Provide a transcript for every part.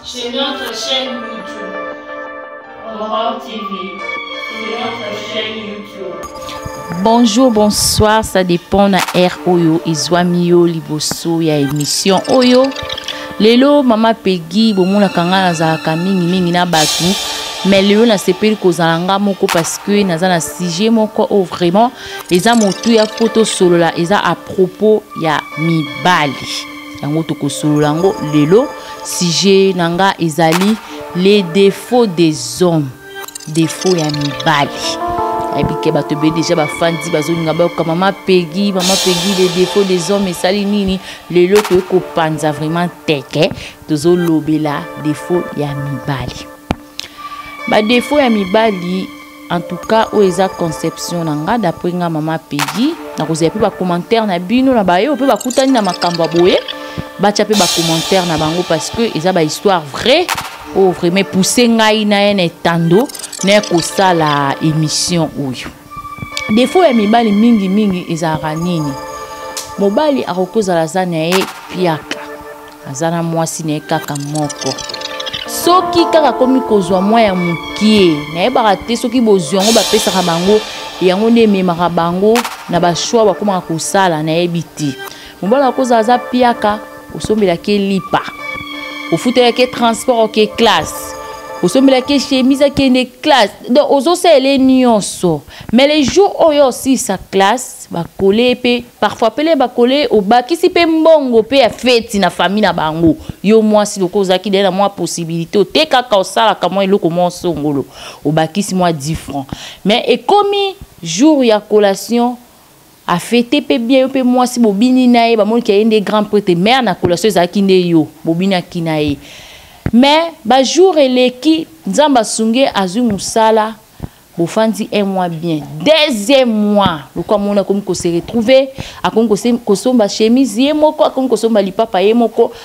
Chez notre chaîne YouTube. Aurore TV. C'est notre chaîne YouTube. Bonjour, bonsoir, ça dépend na air oyo ezwami yo liboso ya émission oyo. Lelo mama Peggy bomonaka ngai nazalaka mingi mingi na bato mais lelo nasepeli kozala nga moko parce que naza na sujet moko oyo vraiment eza motuya mpo tosolola eza à propos ya mibali. yango tokosolola yango lelo sujet na nga ezali les défauts des hommes défaut ya mibali ayebi ke bato ebele deja bafandi bazolinga bayoka mama pegi mama pegi le défaut des hommes esali nini lelo toye kopanza vraiment teke tozolobela défaut ya mibali badefo ya mibali en tout cas oyo eza conception na nga d'après nga mama pegi nakozela mpe bacommentaire na bino na baye oyo mpe bakutani na makambo ya boye batya mpe bacommentaire na bango parce que eza bahistoire vraie oyo oh, vraiment epousse ngai na ye na etando na ya kosala émission oyo defo ya mibali mingi mingi ezalaka nini mobali akoki kozala aza na ye piaka aza na mwasi na ye kaka moko soki kaka akomi kozwa mwa ya mokie nayebaka te soki bozwi yango bapesaka bango yango nde ememaka bango na bashwa bakomaka kosala nayebi te mobali akozala aza piaka osombelaki ye lipa ofutelaki ye transport oke classe osombelaki ye chemise akende classe donc ozosalela ye nyonso mais le jour oyo osilisa classe bakole ye mpe parfois pele bakole ye obakisi mpe mbongo mpe ya feti na famille na bango yo mwasi lokola ozalaki dee na mwa possibilité otekaka osalaka mwa eloko mwa osongolo obakisi mwa 10 franc mais ekomi jour ya collation A fete pe bien yo pe mwasi bobini na ye bamoni ke ye nde grand prete mère na collation ezalaki nde yo bobinaki na ye mais ba jour eleki nzambe asunge azwi mosala bofandi un mois bien deuxième mois lokola moni akomi kose retrouve akomi kosomba chemise ye moko akomi kosomba lipapa ye moko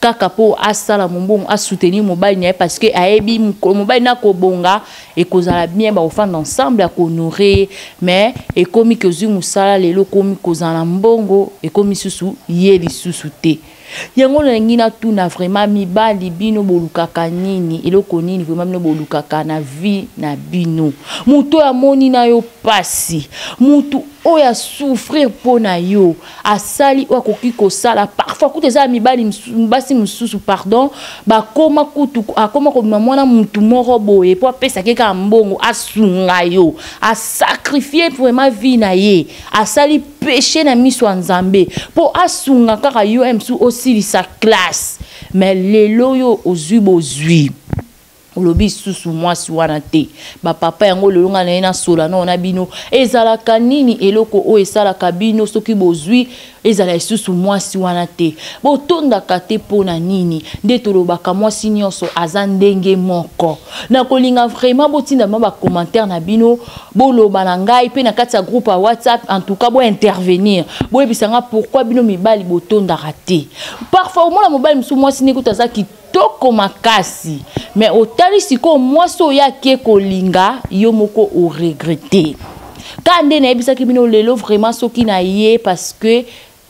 kaka mpo asala mombongo asoutenir mobali na ye parce que ayebi mokolo mobali na kobonga ekozala bien bakofanda ensemble akohonore ye mais ekomi ke ozwi mosala lelo okomi kozala na mbongo ekomi susu ye lisusu te yango nalingi natuna vraiment mibali bino bolukaka nini eloko nini vraiment bino bolukaka na vie na bino moto oyo amoni na yo mpasi moto oyo asouffrir mpo na yo asali oyo akoki kosala parfois kutu eza ya mibali basi mosusu pardon bakoma kutu akoma kobima mwana mutu moko boye mpo apesaki kaka mbongo asunga yo asakrifie vraiment vie na ye asali peche na miso ya nzambe mpo asunga kaka yo msu osilisa classe mais lelo oyo ozwi bozwi olobi lisusu mwasi wana te bapapa yango lelo ngai naye nasola nao na bino ezalaka nini eloko oyo esalaka bino soki bozwi ezala lisusu mwasi wana te botondaka te mpo na nini nde tolobaka mwasi nyonso aza ndenge moko nakolinga vraiment botinda ma bacommentaire na bino boloba na ngai mpe na kati ya groupe ya whatsapp en tout cas bointervenir boyebisa ngai pourkui bino mibali botondaka te parfois omona mobali mosusu mwasi nekuta aza kitoko makasi me otali sikoyo mwasi oyo ake kolinga yo moko oregrete ka nde nayebisaki bino lelo vraiment soki na ye parce que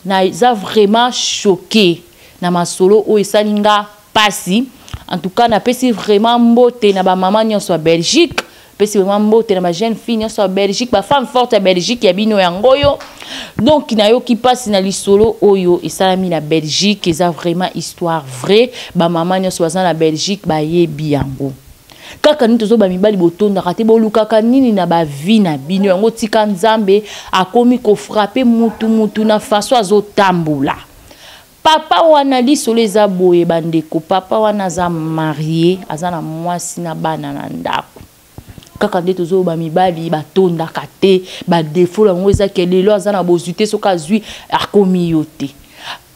naza vraiment choqué na masolo oyo esali nga mpasi en tout cas napesi vraiment mbote na bamama nyonso ya belgique pesi vraiment mbote na ba jeune fille nyonso ya belgique ba femme forte ya belgique ya bino yango oyo donc nayoki mpasi na lisolo oyo esalami na belgique eza vraiment histoire vrai bamama nyonso baza na belgique bayebi yango kaka nini tozoba mibali botondaka te bolukaka nini na bavi na bino yango tika nzambe akomi kofrape mutu mutu na faso azotambola Papa wana lisolo eza boye bandeko papa wana aza marie aza na mwasi na bana na ndako kaka nde tozoloba mibali batondaka te badefo yango eza ke lelo aza na bozwi te soki azwi akomi yo te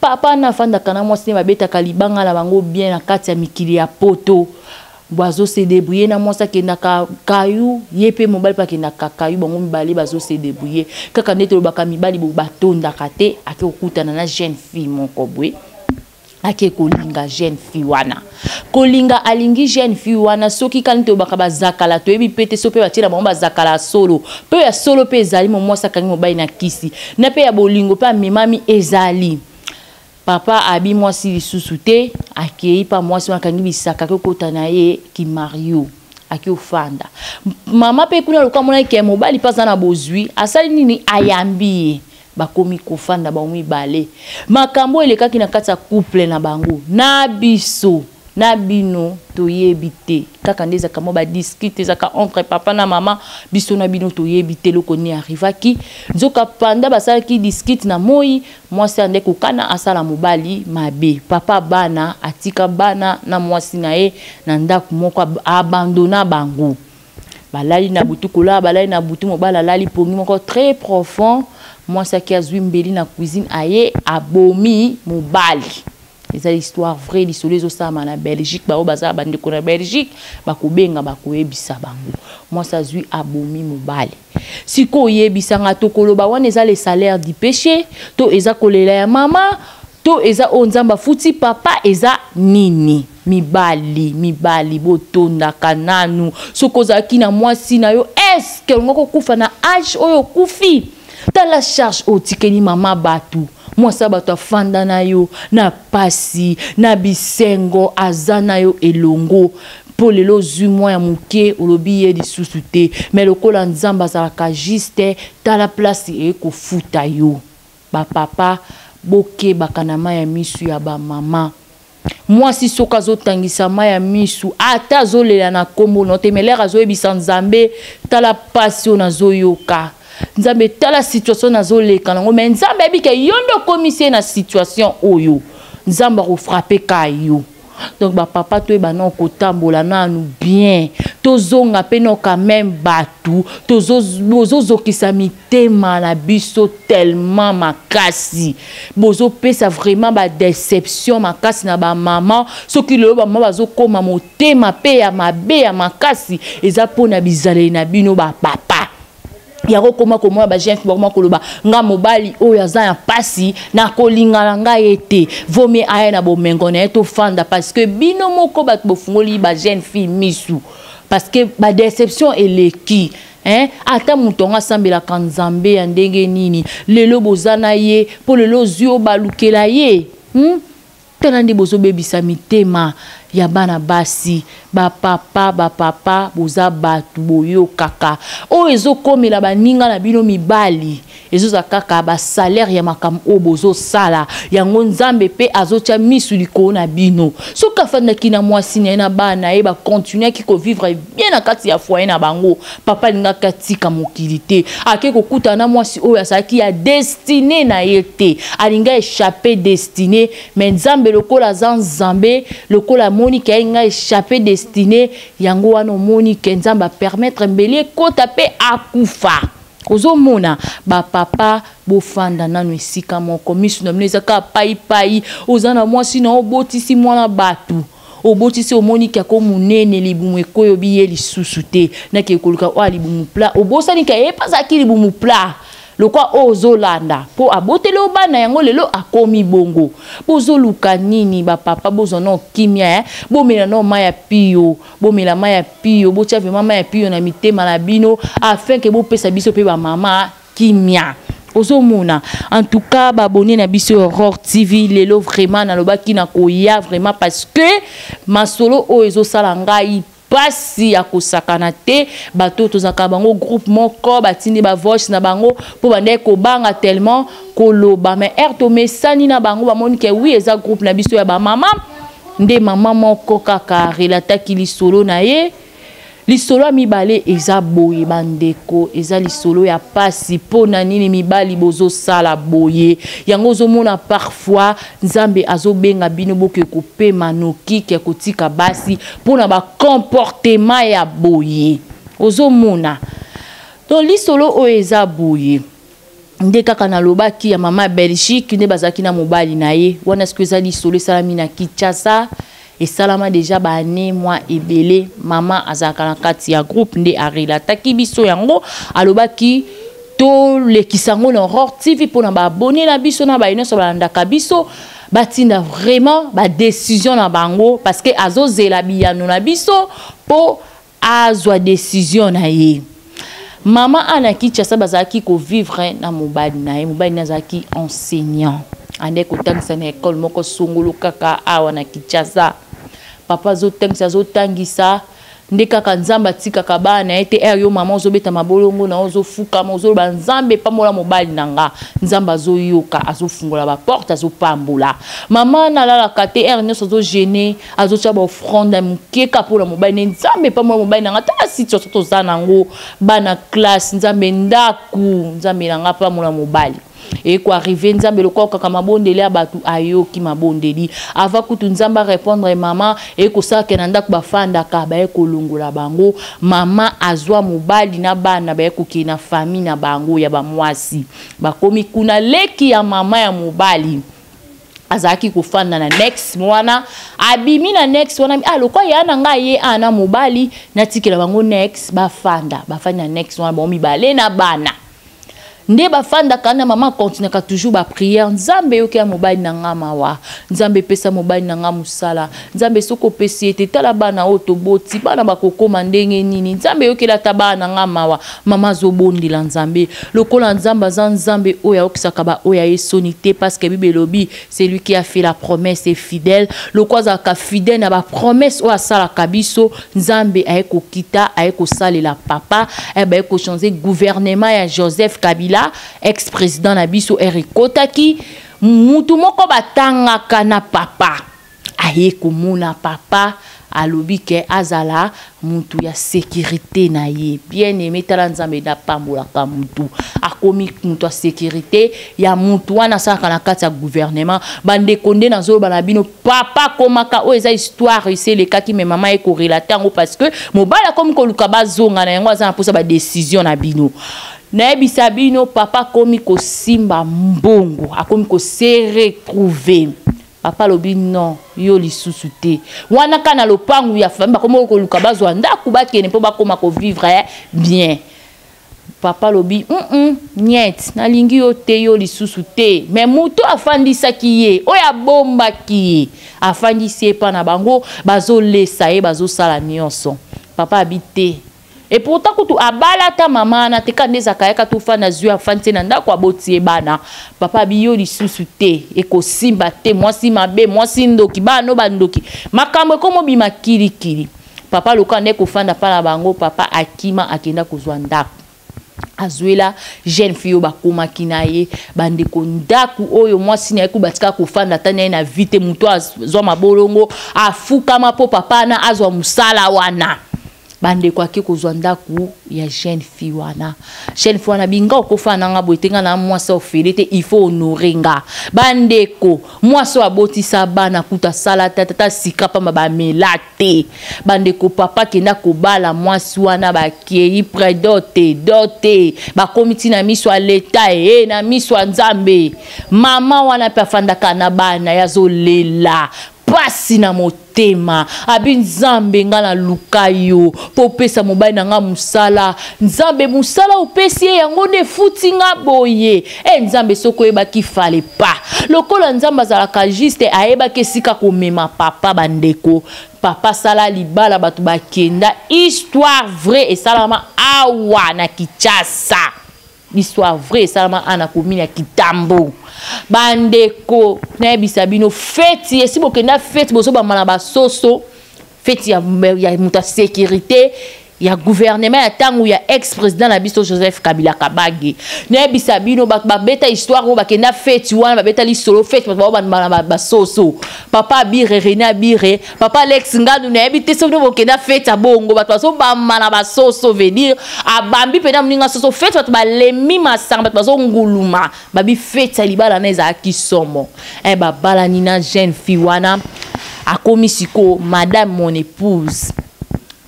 papa na afandaka na mwasi nde babetaka libanga na bango bien na kati ya mikili ya poto Bon azo se débrouiller na mwasi akendaka kayu ye mpe mobali mpe akendaka kayu bango mibale bazo se débrouiller kaka nde tolobaka mibali bo batondaka te ake kokutana na jeune fille moko boye ake kolinga jeune fille wana kolinga alingi jeune fille wana soki kani tolobaka bazakala toyebi mpe te so mpe batyela bango bazakala ya solo mpe ya solo mpe ezali momwasi akangi mobali na kisi na mpe ya bolingo mpe amemami ezali Papa abi mwasi lisusu te akeyi pa mwasi wana akangi bisaka akeyi okota na ye kimario ake ofanda mama mpe kuna lokola amonaki ke mobali mpe aza na bozwi asali nini ayambi ye bakomi kofanda bango mibale makambo elekaki na kati ya couple na bango na biso na bino toyebi te kaka nde ezalaka mwa badiskite ezalaka entre papa na mama biso na bino toyebi te eloko nini arrivaki nzoka panda basalaki diskite na moi mwasi ande kokana asala mobali mabe papa bana atika bana na mwasi na ye na ndako moko abandona bango balali na butu kolala balali na butu mobali alali pongi moko très profond mwasi aki azwi mbeli na cuisine aye abomi mobali eza histoire vrai lisolo ezosalama na belgique baoyo baza bandeko na belgique bakobenga bakoyebisa bango mwasi azwi abomi mobali sikoyo oyebisanga tokoloba wana eza le salaire du péché to eza kolela ya mama to eza oyo nzambe afuti papa eza nini mibali mibali botondaka nanu soki ozalaki na mwasi na yo eske olingaki okufa na age oyo okufi tala charge otikeli mama bato mwasi ya bato afanda na yo na pasi na bisengo aza na yo elongo mpo lelo ozwi mwa ya moke olobi ye lisusu te me lokola nzambe azalaka juste tala place eye kofuta yo bapapa bokebaka na mai ya misu ya bamama mwasi soki azotangisa mai ya misu ata azolela na nkombo no te melere azoyebisa nzambe tala mpasi oyo nazoyoka nzambe tala situation nazoleka nango mai nzambe ayebi ke yo nde okomisi ye na situation oyo nzambe akofrape ka yo donc bapapa toyeba nao kotambola nanu bien tozonga mpe nao quand meme bato tozozokisa mik motema na biso tellement makasi bozopesa vraiment badeception makasi na bamama soki lelo bamama bazokoma motema mpe ya mabe ya makasi eza mpo na bizaleli na bino bapapa yango okoma komona bajeune fille bakoma koloba nga mobali oyo aza ya mpasi nakolinga na ngai ye te vomie aya na bomengo na ye tofanda parce que bino moko bato bofungoli bajeune fille misu parce que badeception eleki Hein? Ata moto yango asambelaka nzambe ya ndenge nini lelo boza na ye mpo lelo ozwi yo balukela ye hmm? tala nde bozobebisa mitema ya bana basi bapapa bapapa boza bato boyokaka oyo ezokomela baninga na bino mibali ezozala kaka basalere ya makambo oyo bozosala yango nzambe mpe azotya misu likolo na bino soki afandaki na mwasi na ye na bana na ye bakontinuaki kovivre bien na kati ya foye na bango papa alingaki atika mokili te ake kokutana na mwasi oyo azalaki ya destine na ye te alingi echappe destine me nzambe lokola aza nzambe lokola amoni ke alinga echappe destine yango wana omoni ke nzambe apermettre mbeli ekota mpe akufa ozomona ba papa bofanda nanu esika moko misu na bino eza kaka paipai oza na mwasi na obotisi mwana batu obotisi omoni ke ako monene libumu ekweyo biye lisusu te nake koluka oyo libumu pla obosani ke ye mpe azalaki libumu pla lokwa oyo ozolanda mpo aboteli yo bana yango lelo akomi bongo bozoluka nini bapapa bozwa nao kimia eh? bomela nao mai ya piyo bomela mai ya pio botya vraimen mai ya pio na mitema na bino afin ke bopesa biso mpe bamama kimia ozomona en tout cas baabonne na biso ya aurore tv lelo vraiment nalobaki na koya vraiment parce que masolo oyo ezosala ngai mpasi ya kosakana te bato tozalaka bango groupe moko batindi bavoice na bango mpo bandaki kobanga tellement koloba mais heure tomesani na bango bamoni ke wi eza groupe na biso ya bamama nde mama moko kaka relataki lisolo na ye lisolo ya mibale eza boye bandeko eza lisolo ya pasi mpo na nini mibali bozosala boye yango ozomona parfois nzambe azobenga bino boke kopema nokike ya kotika basi mpo na bacomportema ya boye ozomona to lisolo oyo eza boye nde kaka nalobaki ya mama ya belgique nde bazalaki na mobali na ye wana siko eza lisolo esalami na kinshasa esalama deja baane mwa ebele mama azalaka na kati ya groupe nde arelataki biso yango alobaki tolekisa yango na aurore tv mpo na baabone na biso na baye nyonso balandaka biso batinda vraiment badecision na bango parce que azozela biyano na biso mpo azwa decision na ye mama ana kinshasa bazalaki kovivre na mobali na ye mobali na azalaki enseignant andaki kotangisa na ekole moko songolo kaka awa na kinshasa papa azotangisa azotangisa nde kaka nzambe atikaka bana na ye te ere yo mama ozobeta mabolongo na yo ozofukama ozoloba nzambe epambola mobali na nga nzambe azoyoka azofungola baporte azopambola mama nalalaka te ere nyonso azogene azotya baofrande ya moke kaka mpo na mobali ne nzambe mpambo ya mobali na ngai tala situation toza na yango bana classe nzambe ndako nzambe na ngai mpambo na mobali ekoarrive nzambe lokola okaka mabondeli ya bato ayoki mabondeli ava kutu nzambe arépondre mama ekosalaka na ndako bafandaka baye kolongola bango mama azwa mobali na bana baye kokei na famille na bango ya bamwasi bakomi kuna leki ya mama ya mobali azalaki kofanda na nex wana abimi na nex wana ah, lokwa ya na ngai ye ana ah, mobali natikela bango nex bafanda bafandi na nex wana bango mibale na bana nde bafandaka na mama akontinaka toujours bapriere nzambe yoki ya mobali na ngai mawa nzambe epesa mobali na ngai mosala Nzambe soki opesi ete tala bana oyo toboti bana bakokoma ndenge nini nzambe eyokeli ata bana na ngai mawa mama azobondela nzambe lokola nzambe aza nzambe oyo ayokisaka baoyo ya ye soni te parceke bible elobi celui qui a fait la promesse est fidèle lokola azalaka fidèle na bapromesse oyo asalaka biso nzambe aye kokita aye kosalela papa eh, baye kochange gouvernement ya joseph kabila ex président na biso ere ekotaki motu moko batangaka na papa aye komona papa alobi ke azala mutu ya securite na ye bien aime tala nzambe nde apambolaka mutu akomi mutu ya securite ya mutu wana asalaka na kati ya gouvernement bandeko nde nazoloba na bino papa akomaka oyo eza histoire esi elekaki me mama ye korelate yango parce que mobali akomi koluka bazonga na yango aza na mposa badecision na bino nayebisa bino papa akomi kosimba mbongo akomi koseretrouve Papa lobi non yo lisusu te wana ka na lopangu ya famille bakomi koluka bazwa ndako bakende mpo bakoma kovivre eh, bien papa lobi mm -mm, nyete nalingi yo te yo lisusu te me moto afandisaki ye oyo abombaki ye afandisi ye epa na bango bazolesa ye bazosala nyonso papa abi te Et pourtant kutu abala ata mama na te kande ezaka yaka to fana zui afani te na ndako aboti ye bana papa biyo lisusu te ekosimba te mwasi mabe mwasi ndoki bana no bandoki makambo ekomobima kilikili papa lokola nde kofanda mpa na bango papa akima akenda kozwa ndako azuela jeune fille oyo bakomaki na ye bandeko ndako oyo mwasi na ye kuba atika kofanda ata na ye na vie te moto azwa mabolongo afukama mpo papa na azwa mosala wana bandeko ake kozwa ndako ya jeune fille wana jeune fille wana binga okofa na nga boye te nga na mwasi ofele te il faut honore nga bandeko mwasi oyo abotisa bana kutu asala te tata sika mpamba bamela te bandeko papa kenda kobala mwasi wana bakei pre dote dote bakomi ti na miso ya leta e na miso ya nzambe mama wana mpe afandaka na bana ye azolela pasi na motema abi nzambe nga na luka yo mpo opesa mobali na nga mosala nzambe mosala opesi ye yango nde efuti nga boye e nzambe soki oyebaki fale pa lokola nzambe azalaka juste ayebaki esika komema papa bandeko papa sala libala bato bakenda histoire vrai esalama awa na kichasa Histoire vraie esalama ana commune ya Kitambo. Bandeko nayebisa bino feti esi bokenda feti bozobamba na basoso feti ya, ya moto ya sécurité ya gouvernement ya ntango ya ex président na biso joseph kabila kabange nayebisa bino bato babeta histoire oyo bakenda feti wana babeta lisolo feti bato bao bandima na basoso papa abire rene abire papa alex nganu nayebi te soki bokenda fete ya bongo bato bazobamba na basoso vedir abambi mpena moninga soso fete bato balemi masanga bato bazonguluma babi fete ya libala na ezalaki somo e babalani na jeune fille wana akomi sikoyo madame mon épouse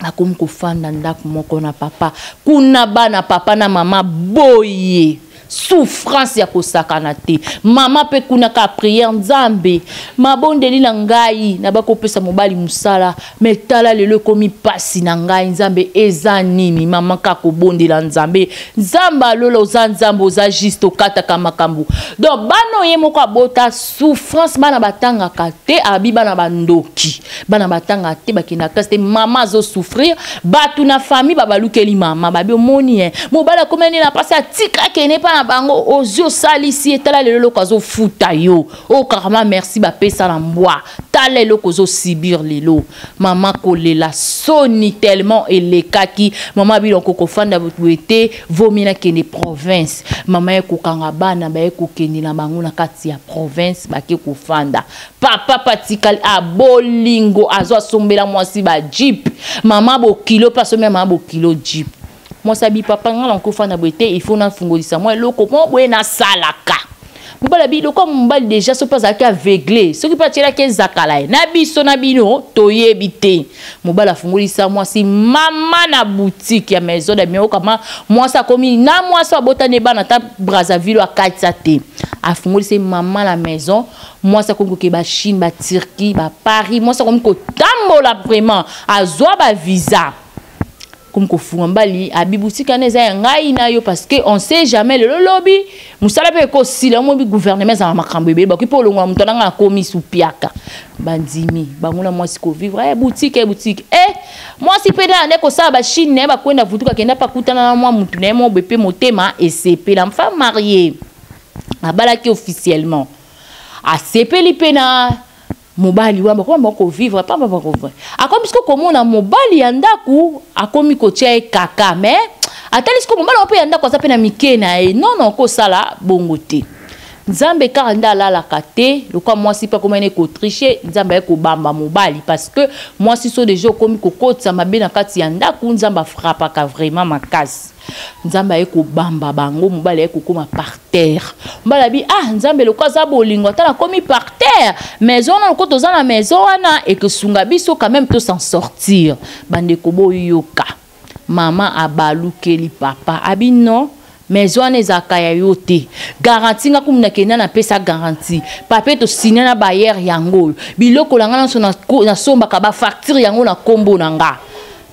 nakomi kofanda ndako moko na papa kuna bana papa na mama boye souffrance ya kosakana te mama mpe kuna ka prière nzambe mabondeli na ngai na bakopesa mobali mosala me tala lelo ekomi mpasi na ngai nzambe eza nini mama ka kobondela nzambe nzambe alola oza nzambe oza juste okataka makambo donc bana oye moko abota souffrance bana batangaka te abi bana bandoki bana batanga te bakenda classe te mama azosouffrir bato na famille babalukeli mama babi omoni ye mobali akomi nde na mpasi atika akende mpa na bango ozwi osalisi ye tala lelo eloko azofuta yo okarama oh, merci bapesa na mbwa tala eloko ozosibir lelo mama kolela soni tellement elekaki mama bino kokofanda boye te vomi nakende province mama ye kokanga bana baye kokende na bango na kati ya province bake kofanda papa patikali a ah, bolingo azo asombela mwasi ba jeep mama bokilo mpe asombela mama bokilo jeep mwasi abi papa ngai nakofa na boye te ifo nafungolisa mwa eloko mwa boye nasalaka mobala biloko ya mobali deja soki mpe azalaki aveugle soki mpe atyelaki ezakala ye na biso na bino toyebi te mobali afungolisa mwasi mama na boutique ya maison de mio kama mwasi akomi na mwasi abotani ebana ata brazzaville akatisa te afungolisi mama na maison mwasi akomi kokeba chine baturquie baparis mwasi akomi kotambola vraiment azwa bavisa komi kofunga mbali abibutikana eza ya ngai na yo parce que on sait jamais lelo lobi mosala mpe ekosila omobi gouvernement ezala makambo ebele bakoki mpe olongola moto nanga akomi supiaka bandimi bango na mwasi kovivre e eh, butike e eh, butike e eh, mwasi mpe nde ande kosala bachine na ye bakwenda vutuka akenda mpe akutana na mwa motu na ye mobe mpe motema esepela mfa marie abalaki officiellement asepeli mpe na mobali wana bakoma bango kovivre pamba bakovivre akomi siko komona mobali ya ndako akomi kotya ye kaka me atali siko mobali wana mpe ya ndako aza mpe na mike na ye nono okosala bongo te nzambe kaka nde alalaka te lokola mwasi mpe akomani kotriche nzambe aye kobamba mobali parce que mwasi so deja okomi kokotisa mabe na kati ya ndako nzambe afrapaka vraiment makasi nzambe aye kobamba bango mobali aye kokoma par terre mobali abi ah nzambe loko aza bolingo ata nakomi par terre maison wana loko toza na maison wana ekosunga biso quand même tosan sortir bandeko boyoka mama abalukeli papa abi non maison wana ezalaka ya yo te garanti nga kumu nakenda napesa garanti papie tosinya na bayere yango oyo biloko na nga nyonso nasombaka bafacture yango na nkombo na nga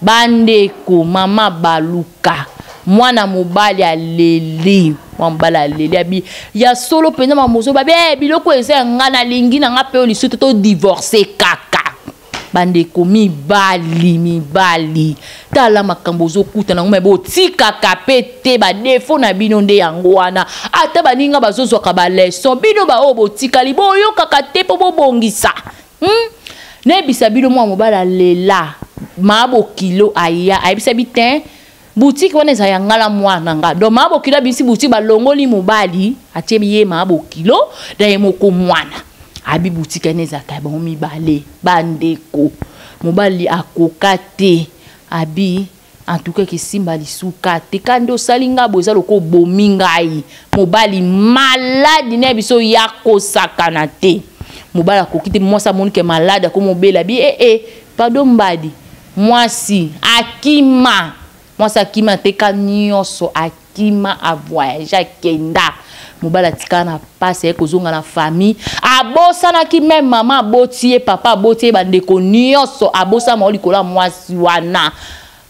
Bandeko, mama baluka mwana mobali aleli mwana mobali aleli abi ya solo mpenza mamozo babi hey, eh, biloko eza ya ngai nalingi na ngai mpe yo lisusu to divorce kaka bandeko mibali mibali tala makambo ozokuta nango mabe otikaka mpe te badefo na bino nde yango wana ata baninga bazozwaka baleson bino baoyo botikali boyokaka te mpo bobongisa Hmm? nayebisa bino mwana mobali alela maa bokilo aya ayebisa bi te butiki wana eza ya nga na mwana na nga donc maa bokilo abimisi butiki balongoli mobali atie ye maa bokilo na ye moko mwana abi butiki wana ezalaka ya bango mibale bandeko mobali akoka te abi en tout cas ekesimba lisuka te ka nde osali ngai boye eza loka obomi ngai mobali maladi na ya biso ya kosakana te mobali akoki te mwasi amoni ke maladi akomi obela bi ee eh, eh, pado mbadi mwasi akima mwasi akima te ka nyonso akima akima a voyage akenda mobali atikala na mpasi aye kozonga na famille abosanaki meme mama aboti ye papa aboti ye bandeko nyonso abosana mao likolo ya mwasi wana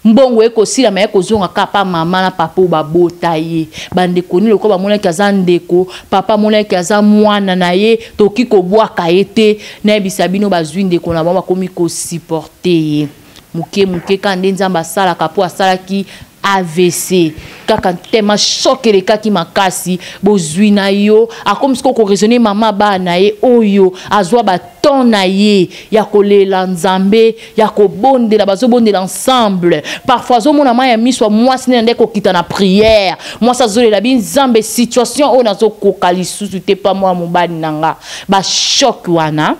mbongo ye kosila ma ye kozonga kaka pa mama na papa oyo babota ye bandeko nini lokola bamonaki aza ndeko papa amonaki aza mwana na ye tokoki kobwaka ye te nayebisa bino bazwi ndeko na bango bakomi kosupporte ye muke muke kaka nde nzambe asalaka mpo asalaki avc kaka ntema shok elekaki makasi bozwi na yo akomi sikoyo koraisonne mama bana na ye oyo azwa baton na ye ya kolela nzambe ya kobondela bazobondela ensemble parfois azomona mai ya miso ya mwasi nde na nde kokita na priere mwasi azolela bi nzambe situation oyo nazokoka lisusu te pa mwa mobali na nga bashok wana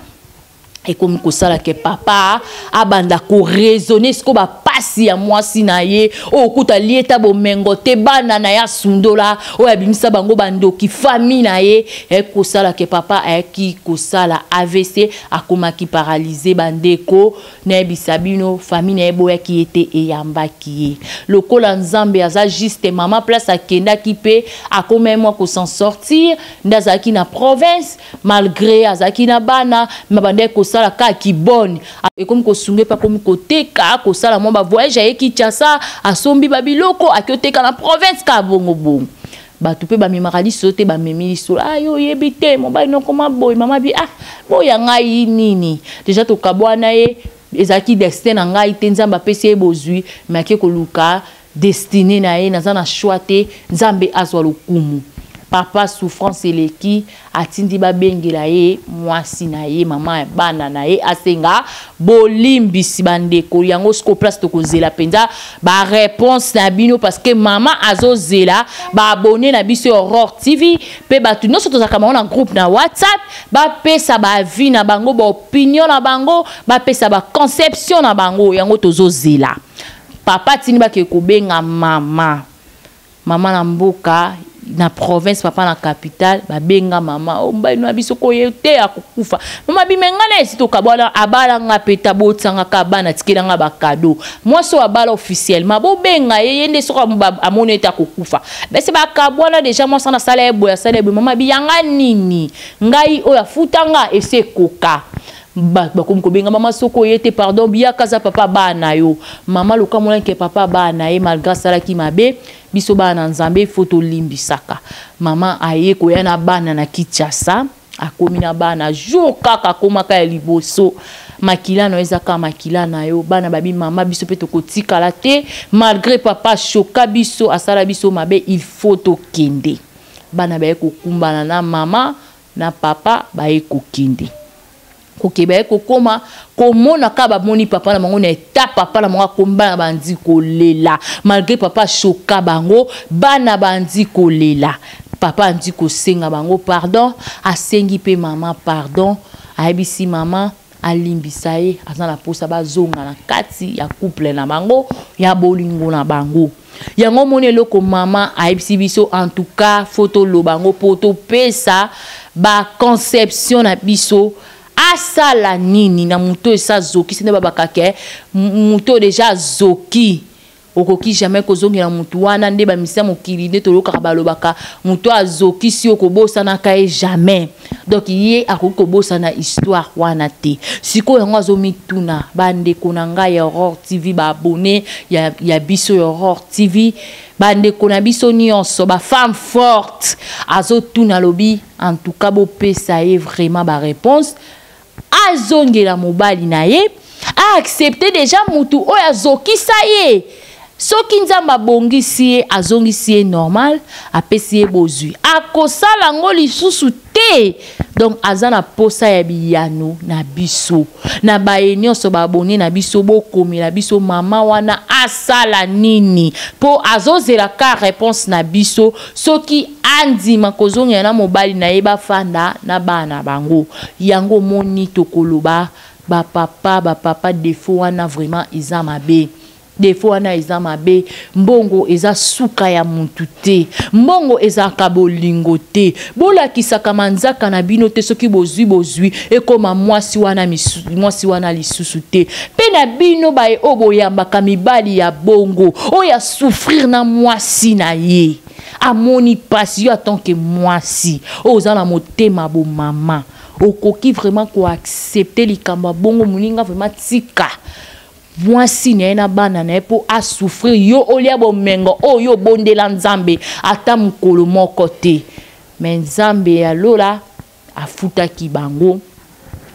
ekomi kosala ke papa abanda koraisonne siko bapasi ya mwasi na ye oyo okuta lie ta bomengo te bana na ye asundola oyo abimisa bango bandoki fami na ye ayaki kosala ke papa ayaki kosala avc akomaki paralyse bandeko nayebisa bino fami na ye boyaki ye te eyambaki ye lokola nzambe aza juste mama place akendaki mpe akomai mwa kosan sortir nde azalaki na province malgre azalaki na bana me abandaki kosala kaka kibone ekomi kosunga epe akomi koteka kosala mwa bavoyage aye kinshasa asombi babiloko ake oteka na province kaka bongobongo bato mpe bamemaka liso te bamemi liso ah, yo oyebi te mobali nokoma boye mama bi ah boya ngai nini deja tokabwana ye ezalaki destin na ngai te nzambe apesi ye bozwi me ake koluka Destine na ye naza na choix te nzambe azwa lokumu papa souffrance eleki atindi babengela ye mwasi na ye mama ya bana na ye asenga bolimbisi bandeko yango siko place tokozela mpenza bareponse na bino parce que mama azozela baabone na biso ya aurore tv mpe bato nyonso tozalaka bango na groupe na whatsapp bapesa baavi na bango baopinion na bango bapesa baconception na bango yango tozozela papa atindi bakee kobenga mama mama na mboka na province papa na capitale babenga mama o oh, mobali na biso koye te akokufa mama bimenga na esi tokabwana abala nga mpe tabotisanga ka bana tikela nga bakado mwasi oyo abala officiellement bobenga ye ye nde soko amoni ete akokufa bese bakabwana deja mwasi ana asala ye boye asala ye boye mama biyanga nini ngai oyo afuta nga esi ekoka ba bakomi kobenga mama soko oye te pardon biyaka aza papa baa na yo mama lokamolani ke papa baa na ye malgre asalaki mabe biso baa na nzambe ifo tolimbisaka mama aye koya na bana na kinshasa akomi na bana jour kaka akomaka ya liboso makila na yo eza kaka makila na yo bana babi mama biso mpe tokotikala te malgre papa ashoka biso asala biso mabe il faut tokende bana baye kokumbana na mama na papa baye kokende koke baye kokoma komona kaka bamoni papa na bango na eta papa na bango akomi bana bandi kolela malgré papa ashoka bango bana bandi kolela papa andi kosenga bango pardon asengi mpe mama pardon ayebisi mama alimbisa ye aza na posa bazonga na kati ya couple na bango ya bolingo na bango yango omoni eloko mama ayebisi biso en tout cas fo toloba yango mpo topesa baconception na biso asala nini na moto esa zoki sende babakake moto deja azoki Okoki jamais kozongela mutu wana nde ba misia mokili nde toyokaka balobaka mutu azokisi yo kobosanaka ye jamais donc ye akoki kobosana histoire wana te sikoyo yango azomituna bandeko na ngai ya aurore tv baabone ya, ya biso ya aurore tv bandeko na biso nyonso bafemme forte azotuna alobi en tout cas bopesa ye vraiment bareponse azongela mobali na ye aaccepte deja mutu oyo azokisa ye soki nzambe abongisi ye azongisi ye normal apesi ye bozwi akosala yango lisusu te donc aza na posa ya biyano na biso na baye nyonso baabone na biso bokomela biso mama wana asala nini mpo azozela ka reponse na biso soki andima kozongela na mobali na ye bafanda na bana bango yango moni tokoloba bapapa bapapa defo wana vraiment eza mabe defo wana eza mabe mbongo eza suka ya mutu te mbongo ezalaka bolingo te bolakisaka manzaka na bino te soki bozwi bozwi ekoma mwasi wana misu, mwasi wana lisusu te mpe na bino baye oyo boyambaka mibali ya bongo oyo souffrir na mwasi na ye amoni mpasi yo atant que mwasi oyo oza na motema bomama okoki vraiment koaccepte likambo ya bongo moninga vraiment tika mwasi na ye na bana na ye mpo asouffrir yo olia bomengo oyo yo obondela nzambe ata mokolo moko te me nzambe ya lola afutaki bango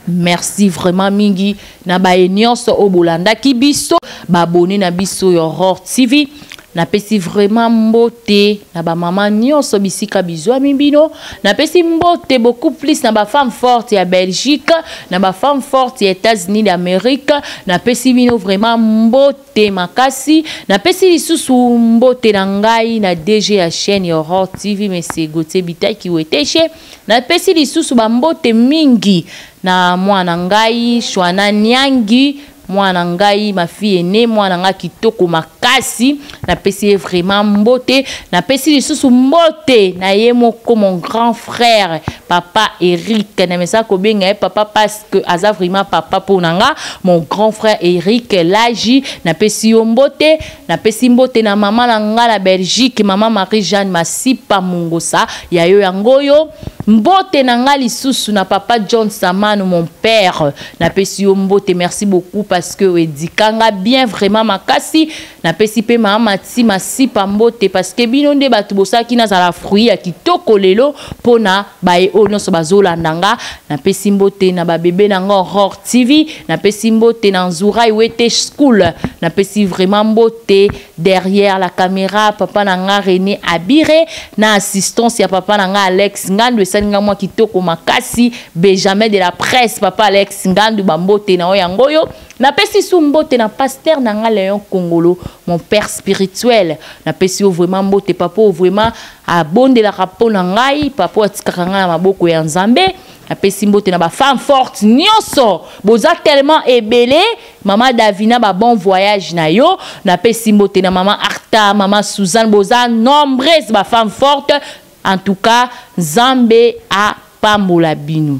merci vraiment mingi na baye nyonso oyo bolandaki biso babone na biso ya aurore tv napesi vraiment mbote na bamama nyonso bisika bizwami bino napesi mbote beaucoup plus na bafemme forte ya belgique na bafemme forte ya états-unis d'amérique napesi bino vraiment mbote te makasi napesi lisusu mbote na ngai na dg ya chaîne ya Aurore TV monsieur Gauthier Bitaki Weteshe napesi lisusu bambote mingi na mwana ngai Shwana Niangi mwana ngai mafi ene mwana ngai kitoko makasi napesi ye vraiment mbote napesi lisusu mbote na ye moko mon grand frère papa Eric na mesa kobenga ye papa pas que aza vraiment papa mpo na nga mon grand frère eric laji napesi yo mbote napesi mbote na mama na nga na belgique mama marie jeanne masipa mongosa ya yo yango oyo mbote na nga lisusu na papa john samano mon père napesi yo mbote merci beaucoup parce que oedika nga bien vraiment makasi napesi mpe mama ti masipa mbote parceke bino nde bato bosalaki nazala fruit ya kitoko lelo mpo na baye oyo nyonso bazolanda nga napesi mbote na babebe na nga aurore tv napesi mbote na nzurai wete school napesi vraiment mbote derrière la caméra papa na nga rene abire na assistance ya papa na nga alex ngandu esali nga mwa kitoko makasi benjamin de la presse papa alex ngandu bambote na yo yango oyo napesi su mbote na pasteur na nga leon kongolo mon père spirituel napesi yo vraiment mbote papa oyo vraiment abondelaka mpo na ngai papa oyo atikaka ngai na maboko ya nzambe napesi mbote na bafemme forte nyonso boza tellement ebele mama davina babon voyage na yo napesi mbote na mama arta mama suzanne boza nombreuse bafemme forte en tout cas nzambe apambola bino